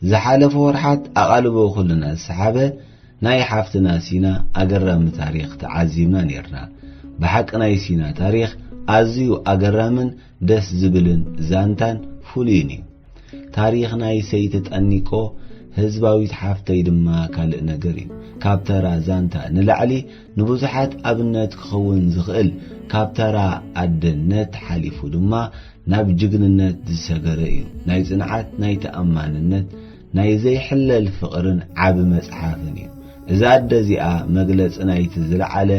ዝሓለፉ ወርሓት ኣቓልቦ ኩልና ዝሰሓበ ናይ ሓፍትና ሲና ኣገራሚ ታሪኽ ተዓዚብና ኔርና። ብሓቂ ናይ ሲና ታሪኽ ኣዝዩ ኣገራምን ደስ ዝብልን ዛንታን ፍሉይን እዩ ታሪኽ ናይ ሰይቲ ጠኒቆ ህዝባዊት ሓፍተይ ድማ ካልእ ነገር እዩ ካብ ተራ ዛንታ ንላዕሊ ንብዙሓት ኣብነት ክኸውን ዝኽእል ካብ ተራ ኣደነት ሓሊፉ ድማ ናብ ጅግንነት ዝሰገረ እዩ ናይ ጽንዓት ናይ ተኣማንነት ናይ ዘይሕለል ፍቕርን ዓቢ መጽሓፍን እዩ። እዛ ኣደ እዚኣ መግለጺ ናይቲ ዝለዓለ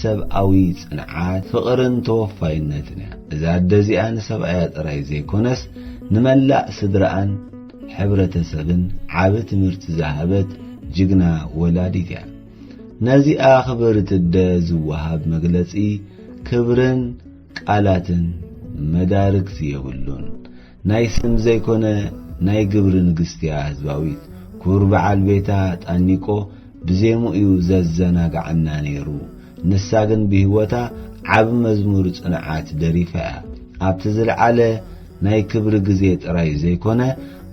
ሰብኣዊ ጽንዓት፣ ፍቕርን ተወፋይነትን እያ። እዛ ኣደ እዚኣ ንሰብኣያ ጥራይ ዘይኮነስ ንመላእ ስድራኣን ሕብረተሰብን ዓቢ ትምህርቲ ዝሃበት ጅግና ወላዲት እያ። ነዚኣ ክብርቲ ኣደ ዝወሃብ መግለጺ ክብርን ቃላትን መዳርግቲ የብሉን። ናይ ስም ዘይኮነ ናይ ግብሪ ንግስቲ'ያ ህዝባዊት። ክቡር በዓል ቤታ ጣኒቆ ብዜምኡ'ዩ ዘዘናግዓና ነይሩ። ንሳ ግን ብህይወታ ዓቢ መዝሙር ጽንዓት ደሪፋ'ያ። ኣብቲ ዝልዓለ ናይ ክብሪ ግዜ ጥራይ ዘይኮነ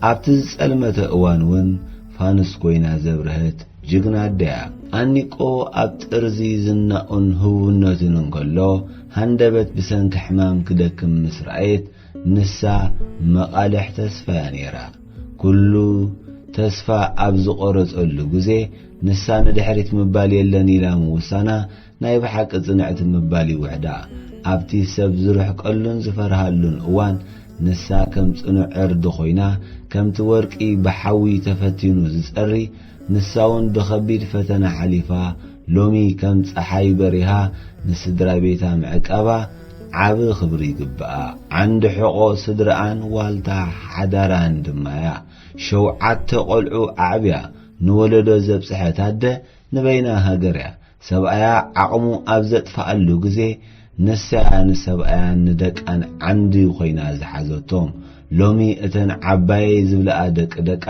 ኣብቲ ዝጸልመተ እዋን'ውን ፋኑስ ኮይና ዘብረሀት ጅግና ኣደ'ያ። ጣኒቆ ኣብ ጥርዚ ዝናኡን ህቡብነቱን እንከሎ ሃንደበት ብሰንኪ ሕማም ክደክም ምስ ረኣየት፣ ንሳ መቓልሕ ተስፋ'ያ ነይራ። ኩሉ ተስፋ ኣብ ዝቖረጸሉ ግዜ፣ ንሳ ንድሕሪት ምባል የለን ኢላ ምውሳና ናይ ብሓቂ ጽንዕቲ ምባል'ዩ ውሕዳ። ኣብቲ ሰብ ዝርሕቀሉን ዝፈርሃሉን እዋን፣ ንሳ ከም ጽኑዕ ዕርዲ ኮይና፣ ከምቲ ወርቂ ብሓዊ ተፈቲኑ ዝጸሪ፣ ንሳ'ውን ብኸቢድ ፈተና ሓሊፋ፣ ሎሚ ከም ጸሓይ በሪሃ ንስድራቤታ ምዕቃባ ዓቢ ክብሪ ይግብኣ። ዓንዲ ሕቖ ስድርኣን ዋልታ ሓዳራን ድማ'ያ። ሸውዓተ ቆልዑ ኣዕብያ ንወለዶ ዘብጽሐት ኣደ ንበይና ሃገር'ያ። ሰብኣያ ዓቕሙ ኣብ ዘጥፍኣሉ ግዜ ንሳ'ያ ንሰብኣያን ንደቃን ዓንዲ ኮይና ዝሓዘቶም። ሎሚ እተን ዓባየይ ዝብልኣ ደቂ ደቃ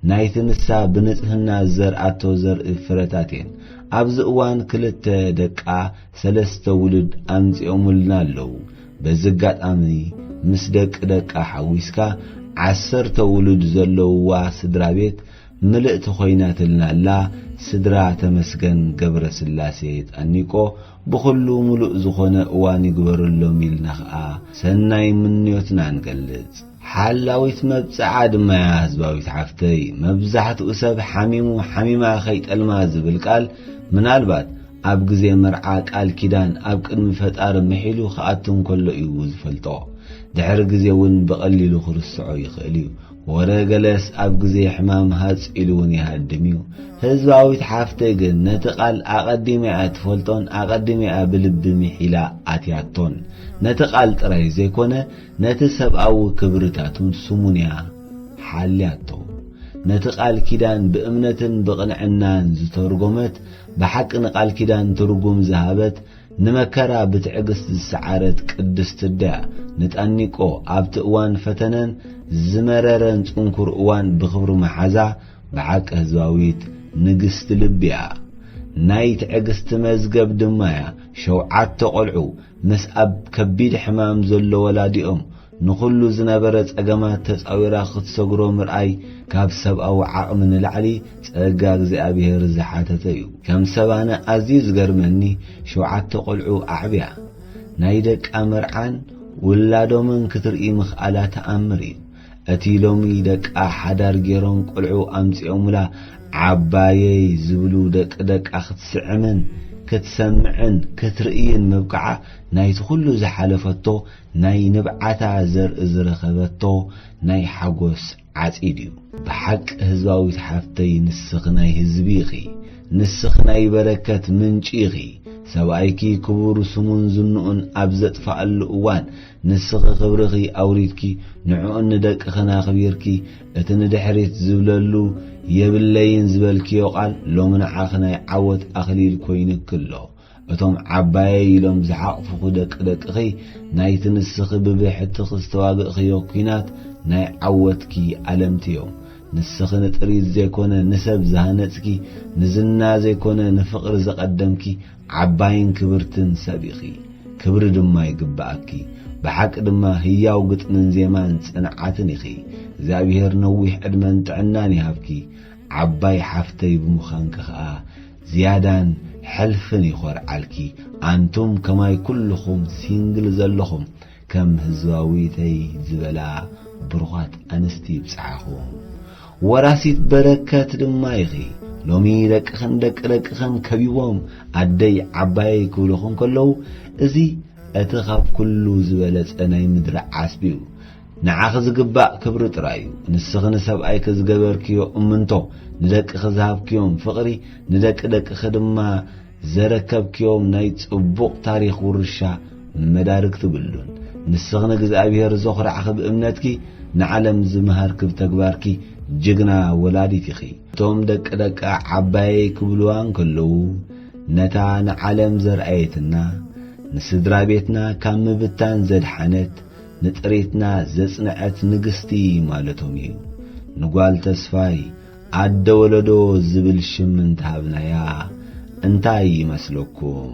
ናይቲ ንሳ ብንጽህና ዝዘርኣቶ ዘርኢ ፍረታት እየን። ኣብዚ እዋን ክልተ ደቃ ሰለስተ ውሉድ ኣምጺኦምልና ኣለዉ። በዚ ኣጋጣሚ ምስ ደቂ ደቃ ሓዊስካ ዓሰርተ ውሉድ ዘለዉዋ ስድራቤት ምልእቲ ኮይናትልና ኣላ ስድራ ተመስገን ገብረስላሴ ጣኒቆ ብኹሉ ምሉእ ዝኾነ እዋን ይግበረሎም ኢልና ከኣ ሰናይ ምንዮትና ንገልጽ። ሓላዊት መብጽዓ ድማ'ያ ህዝባዊት ሓፍተይ። መብዛሕትኡ ሰብ ሓሚሙ ሓሚማ ከይጠልማ ዝብል ቃል ምናልባት ኣብ ግዜ መርዓ ቃል ኪዳን ኣብ ቅድሚ ፈጣሪ ምሒሉ ክኣቱ እንከሎ እዩ ዝፈልጦ። ድሕሪ ግዜ እውን ብቐሊሉ ክርስዖ ይኽእል እዩ። ወረ ገለስ ኣብ ግዜ ሕማም ሃጽ ኢሉ እውን ይሃድም እዩ። ህዝባዊት ሓፍተይ ግን ነቲ ቃል ኣቐዲማ እያ ትፈልጦን ኣቐዲማ እያ ብልቢ ምሒላ ኣትያቶን። ነቲ ቃል ጥራይ ዘይኮነ ነቲ ሰብኣዊ ክብርታቱን ስሙን'ያ ሓልያቶ። ነቲ ቃል ኪዳን ብእምነትን ብቕንዕናን ዝተርጎመት፣ ብሓቂ ንቃል ኪዳን ትርጉም ዝሃበት፣ ንመከራ ብትዕግስት ዝሰዓረት ቅድስት'ድያ ንጣኒቆ ኣብቲ እዋን ፈተነን ዝመረረን ጽንኩር እዋን ብኽብሪ ምሓዛ። ብሓቂ ህዝባዊት ንግስቲ ልቢ'ያ። ናይ ትዕግስቲ መዝገብ ድማ'ያ። ሸውዓተ ቆልዑ ምስ ኣብ ከቢድ ሕማም ዘሎ ወላዲኦም ንኹሉ ዝነበረ ጸገማት ተጻዊራ ክትሰግሮ ምርኣይ ካብ ሰብኣዊ ዓቕሚ ንላዕሊ ጸጋ እግዚኣብሔር ዝሓተተ እዩ። ከም ሰብ ኣነ ኣዝዩ ዝገርመኒ ሸውዓተ ቆልዑ ኣዕብያ ናይ ደቃ መርዓን ውላዶምን ክትርኢ ምኽኣላ ተኣምር እዩ። እቲ ሎሚ ደቃ ሓዳር ጌሮም ቆልዑ ኣምጺኦሙላ ዓባየይ ዝብሉ ደቂ ደቃ ክትስዕምን ክትሰምዕን ክትርእይን ምብቃዓ ናይቲ ኩሉ ዝሓለፈቶ ናይ ንብዓታ ዘርኢ ዝረኸበቶ ናይ ሓጎስ ዓጺድ እዩ። ብሓቂ ህዝባዊት ሓፍተይ ንስኺ ናይ ህዝቢ ኢኺ ንስኺ ናይ በረከት ምንጪ ኢኺ ሰብኣይኪ ክቡር ስሙን ዝንኡን ኣብ ዘጥፋኣሉ እዋን ንስኺ ክብርኺ ኣውሪድኪ ንዕኡን ንደቅኽን ኣኽቢርኪ እቲ ንድሕሪት ዝብለሉ የብለይን ዝበልክዮ ቃል ሎሚ ንዓኺ ናይ ዓወት ኣኽሊል ኮይኑኪ ኣሎ። እቶም ዓባየይ ኢሎም ዝሓቕፉኺ ደቂ ደቅኺ ናይቲ ንስኺ ብብሕትኺ ዝተዋግእኽዮ ኲናት ናይ ዓወትኪ ኣለምቲ'ዮም። ንስኺ ንጥሪት ዘይኮነ ንሰብ ዝሃነጽኪ፣ ንዝና ዘይኮነ ንፍቕሪ ዘቐደምኪ፣ ዓባይን ክብርትን ሰብ ኢኺ ክብሪ ድማ ይግብኣኪ ብሓቂ ድማ ህያው ግጥምን ዜማን ጽንዓትን ኢኺ እግዚኣብሄር ነዊሕ ዕድመን ጥዕናን ይሃብኪ ዓባይ ሓፍተይ ብምዃንኪ ከኣ ዝያዳን ሕልፍን ይኾርዓልኪ ኣንቱም ከማይ ኩሉኹም ሲንግል ዘለኹም ከም ህዝባዊተይ ዝበላ ብሩኻት ኣንስቲ ይብጽሓኹም። ወራሲት በረከት ድማ ኢኺ። ሎሚ ደቅኽን ደቂ ደቅኽን ከቢቦም ኣደይ ዓባየይ ክብሉኺ እንከለዉ እዚ እቲ ካብ ኩሉ ዝበለጸ ናይ ምድሪ ዓስቢ'ዩ። ንዓኺ ዝግባእ ክብሪ ጥራይ'ዩ። ንስኺ ንሰብኣይኪ ዝገበርክዮ እምንቶ፣ ንደቅኺ ዝሃብክዮም ፍቕሪ፣ ንደቂ ደቅኺ ድማ ዘረከብክዮም ናይ ጽቡቕ ታሪኽ ውርሻ መዳርግቲ ብሉን። ንስኺ ንእግዝኣብሄር ዘኹራዕኺ ብእምነትኪ ንዓለም ዝመሃርኪ ብተግባርኪ ጅግና ወላዲት ኢኺ። እቶም ደቂ ደቃ ዓባየይ ክብሉዋ እንከለዉ ነታ ንዓለም ዘርኣየትና፣ ንስድራቤትና ካብ ምብታን ዘድሓነት፣ ንጥሪትና ዘጽንዐት ንግስቲ ማለቶም ኢዩ። ንጓል ተስፋይ ኣደ ወለዶ ዝብል ሽም እንተሃብናያ እንታይ ይመስለኩም?